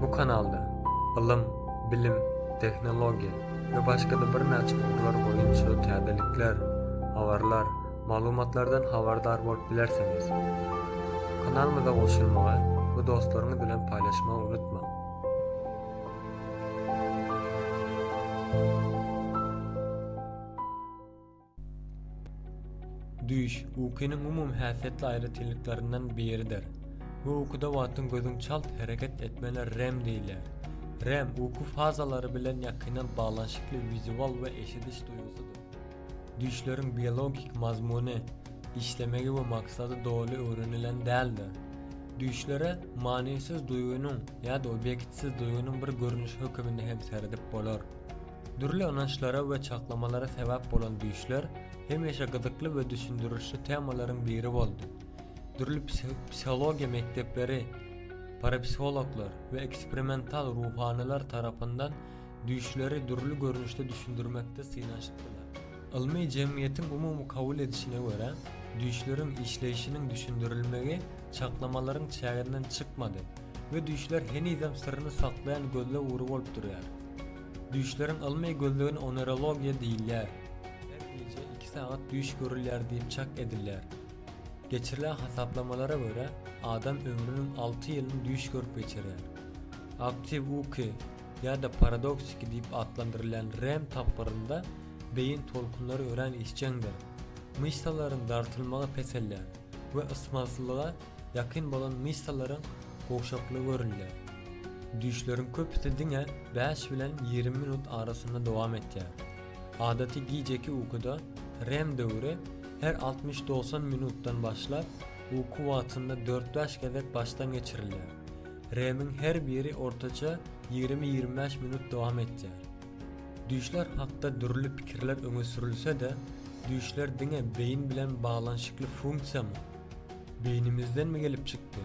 Bu kanalda ylym, bilim, tehnologiýa we başga-da birnäçe ugurlar boýunça täzelikler, habarlar, maglumatlardan habardar bolup bilersiňiz. Kanalymyza goşulmagy we dostlaryňyz bilen paýlaşmagy unutmaň! Düýş, ukynyň umumy häsiýetli aýratynlyklarynyň biridir. Bu ukuda wagtyň gözüň çalt hereket etmegine REM diýilýär. REM uky fazalary bilen ýakyndan baglanyşykly wizual we eşidiş duýgusydyr. Düýşleriň biologik mazmuny, işlemegi we maksady doly öwrenilen däldir. Düýşlere manysyz duýgynyň ýa-da obýektsiz duýgynyň bir görnüşi höküminde hem seredip bolar. Dürli ynançlara we çaklamalara sebäp bolan düýşler hemişe gyzykly we düşündirişli temalaryň biri boldy. Dürli psihologiýa mekdepleri, parapsihologlar we eksperimental ruhanylar tarapyndan düýşleri dürli görnüşde düşündirmekde synanyşypdylar. Ylmy jemgyýetiň umumy kabul edişine görä, düýşleriň işleýşiniň düşündirilmegi çaklamalaryň çäginden çykmady we düýşler henizem syryny saklaýan gözleg ury bolup durýar. Düýşleriň ylmy gözlegine onerologiýa diýilýär. Her gije iki sagat düýş görülýär diýip çak edilýär. Geçirilen hasaplamalara görä, adam ömrüniň alty ýylyny düýş görüp geçirýär. Aktiw uky ýa-da paradoksiki diýip atlandyrylýan REM tapgyrynda beýin tolkunlary örän işjeňdir. Myşsalaryň dartylmagy peselýär we ysmazlyga ýakyn bolan myşsalaryň gowşaklygy görülýär. Düýşleriň köpüsi diňe bäş bilen ýigrimi minut arasynda dowam etýär. Adaty gijeki ukuda REM döwri her altmyş-dogsan minutdan başlap, uky wagtynda dört-bäş gezek başdan geçirilýär. REM-iň her biri ortaça ýigrimi-ýigrimi bäş minut dowam etýär. Düýşler hakda dürli pikirler öňe sürülse-de, düýşler diňe beýin bilen baglanyşykly funksiýamy? Beýnimizdenmi gelip çykdy?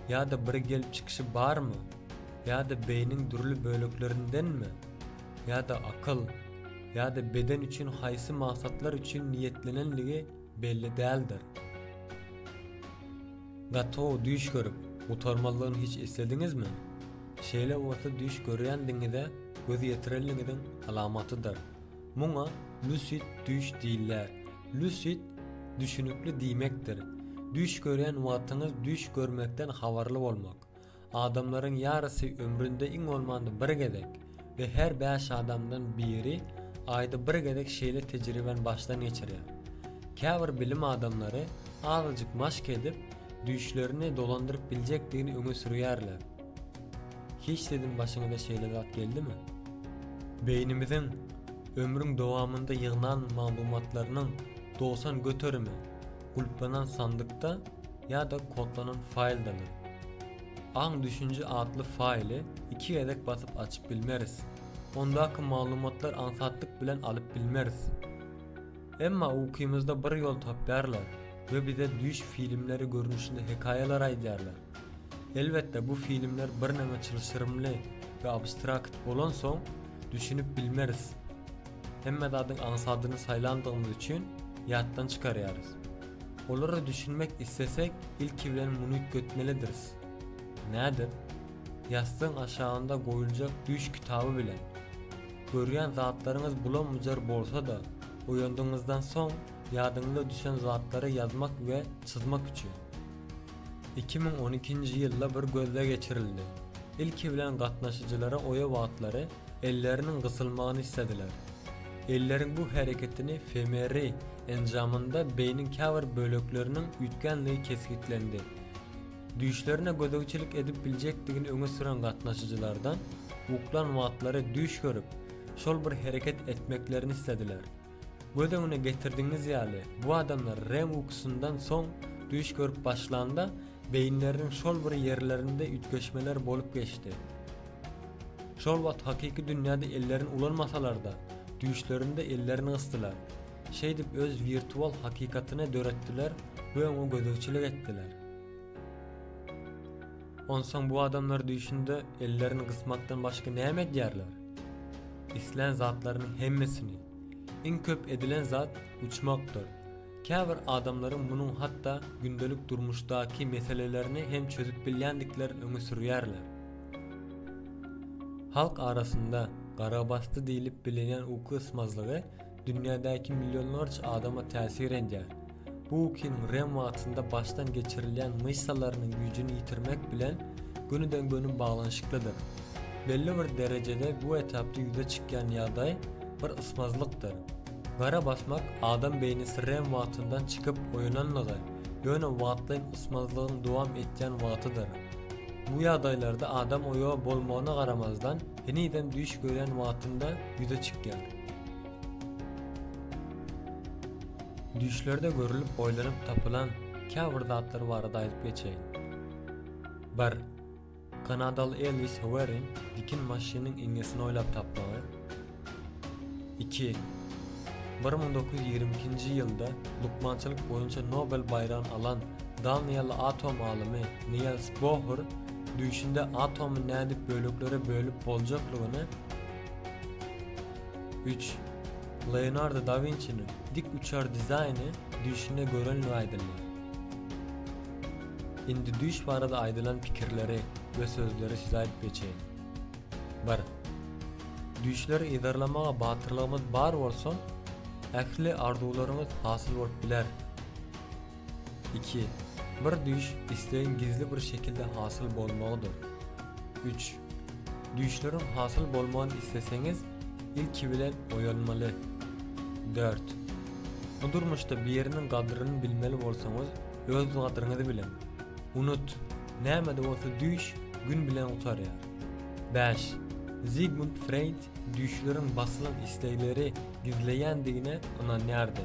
Ýa-da bir gelip çykyşy barmy? Ýa-da beýniň dürli böleklerindenmi? Ýa-da akyl? Ýa-da beden üçin haýsy maksatlar üçin niýetlenenligi belli däldir. Gaty-ow düýş görüp, gutarmazlygyny hiç eslediňizmi? Şeýle bolsa düýş görýänligiňize göz ýetirenligiňiziň alamatydyr. Muňa lusid düýş diýiller. Lusid düşünikli diýmekdir. Düýş görýän wagtyňyz düýş görmekden habarly bolmak. Adamlaryň ýarysy ömründe iň bolmanda bir gezek we her bäş adamdan biri aýda bir gezek şeýle tejribäni başdan geçirýär. Käbir bilim adamlary azajyk maşk edip, düýşlerini dolandyryp biljekdigini öňe sürýärler. Hiç siziň başyňyza şeýle zat geldimi? Beýnimiziň ömrüň dowamynda ýygnan maglumatlarynyň dogsan göterimi gulplanan sandykda ýa-da kodlanan faýldadyr. Aň-düşünje atly faýly iki gezek basyp açyp bilmeris. Ondaky maglumatlar aňsatlyk bilen alyp bilmeris. Emma ukymyzda bir ýol tapýarlar we bize düýş filmleri görnüşinde hekaýalar aýdýarlar. Elbetde bu filmler birneme çylşyrymly we abstrakt bolansoň düşünip bilmeris. Hemme zadyň aňsadyny saýlandygymyz üçin ýatdan çykarýarys. Olara düşünmek islesek ilki bilen muny üýtgetmelidiris. Nädip? Ýassygyň aşagynda goýuljak düýş kitaby bilen. Görýän zatlaryňyz bulam-bujar bolsa-da, oýandygyňyzdan soň ýadyňyza düşen zatlary ýazmak we çyzmak üçin. Iki müň on ikinji ýylda bir gözleg geçirildi. Ilki bilen gatnaşyjylara oýa wagtlary elleriniň gysylmagyny islediler. Elleriň bu hereketini fMRI enjamynda beýniň käbir bölekleriniň üýtgändigi kesgitlendi. Düýşlerine gözegçilik edip biljekdigini öňe süren gatnaşyjylardan uklan wagtlary düýş görüp, şol bir hereket etmeklerini islediler. Göz öňüne getirdigiňiz ýaly, bu adamlar REM ukusyndan soň düýş görüp başlanda, beýinleriniň şol bir ýerlerinde üýtgeşmeler bolup geçdi. Şol wagt hakyky dünýäde ellerini ulanmasalar-da, düýşlerinde ellerini gysdylar. Şeýdip öz wirtual hakykatyny döretdiler we oňa gözegçilik etdiler. Onsoň bu adamlar düýşünde ellerini gysmakdan başga näme edýärler? Islän zatlarynyň hemmesini. Iň köp edilen zat uçmakdyr. Käbir adamlaryň munuň hatda gündelik durmuşdaky meselelerini hem çözüp bilýändiklerini öňe sürýärler. Halk arasynda garabasdy diýlip bilinýän uky ysmazlygy dünýädäki millionlarça adama täsir edýär. Bu kiniň REM wagtynda başdan geçirilýän myşsalarynyň güýjüni ýitirmek bilen gönüden-göni baglanyşyklydyr. Belli bir derejede bu etapda ýüze çykýan ýagdaý bir ysmazlykdyr. Gara basmak adam beýnisi REM wagtyndan çykyp oýananlygy, ýöne wagtlaýyn ysmazlygyň dowam etýän wagtydyr. Bu ýagdaýlarda adam oýa bolmagyna garamazdan, henizem düýş görýän wagtynda ýüze çykýar. Düýşlerde görülip oýlanyp tapylan käbir zatlar barada aýdyp geçeýin. Bir. Kanadaly Ellis Howerin dikin maşynyň iňňesini oýlap tapmagy. Iki. Bir müň dokuz ýüz ýigrimi ikinji ýylda lukmançylyk boýunça Nobel baýragyny alan daniýaly atom alymy Niels Bohr düýşünde atomy nädip böleklere bölüp boljaklygyny Üç. Leonardo da Winçiniň dik uçar dizaýny düýşünde görendigi aýdylýar. Indi düýş barada aýdylan pikirleri we sözleri size aýdyp geçeýin. Bir. Düýşleri yzarlamaga batyrlygymyz bar bolsa, ähli arzuwlaryňyz hasyl bolup biler. Iki. Bir düýş islegiň gizli bir şekilde hasyl bolmagydyr. Üç. Düýşleriň hasyl bolmagyny isleseňiz, ilki bilen oýalmaly. Dört. Bu durmuşda biriniň gadryny bilmeli bolsaňyz, öz gadryňyzy biliň. Unut, näme-de bolsa düýş gün bilen gutarýar. Bäş. Zigmund Freýd düýşleriň basylan islegleri gizleýändigine ynanýardy.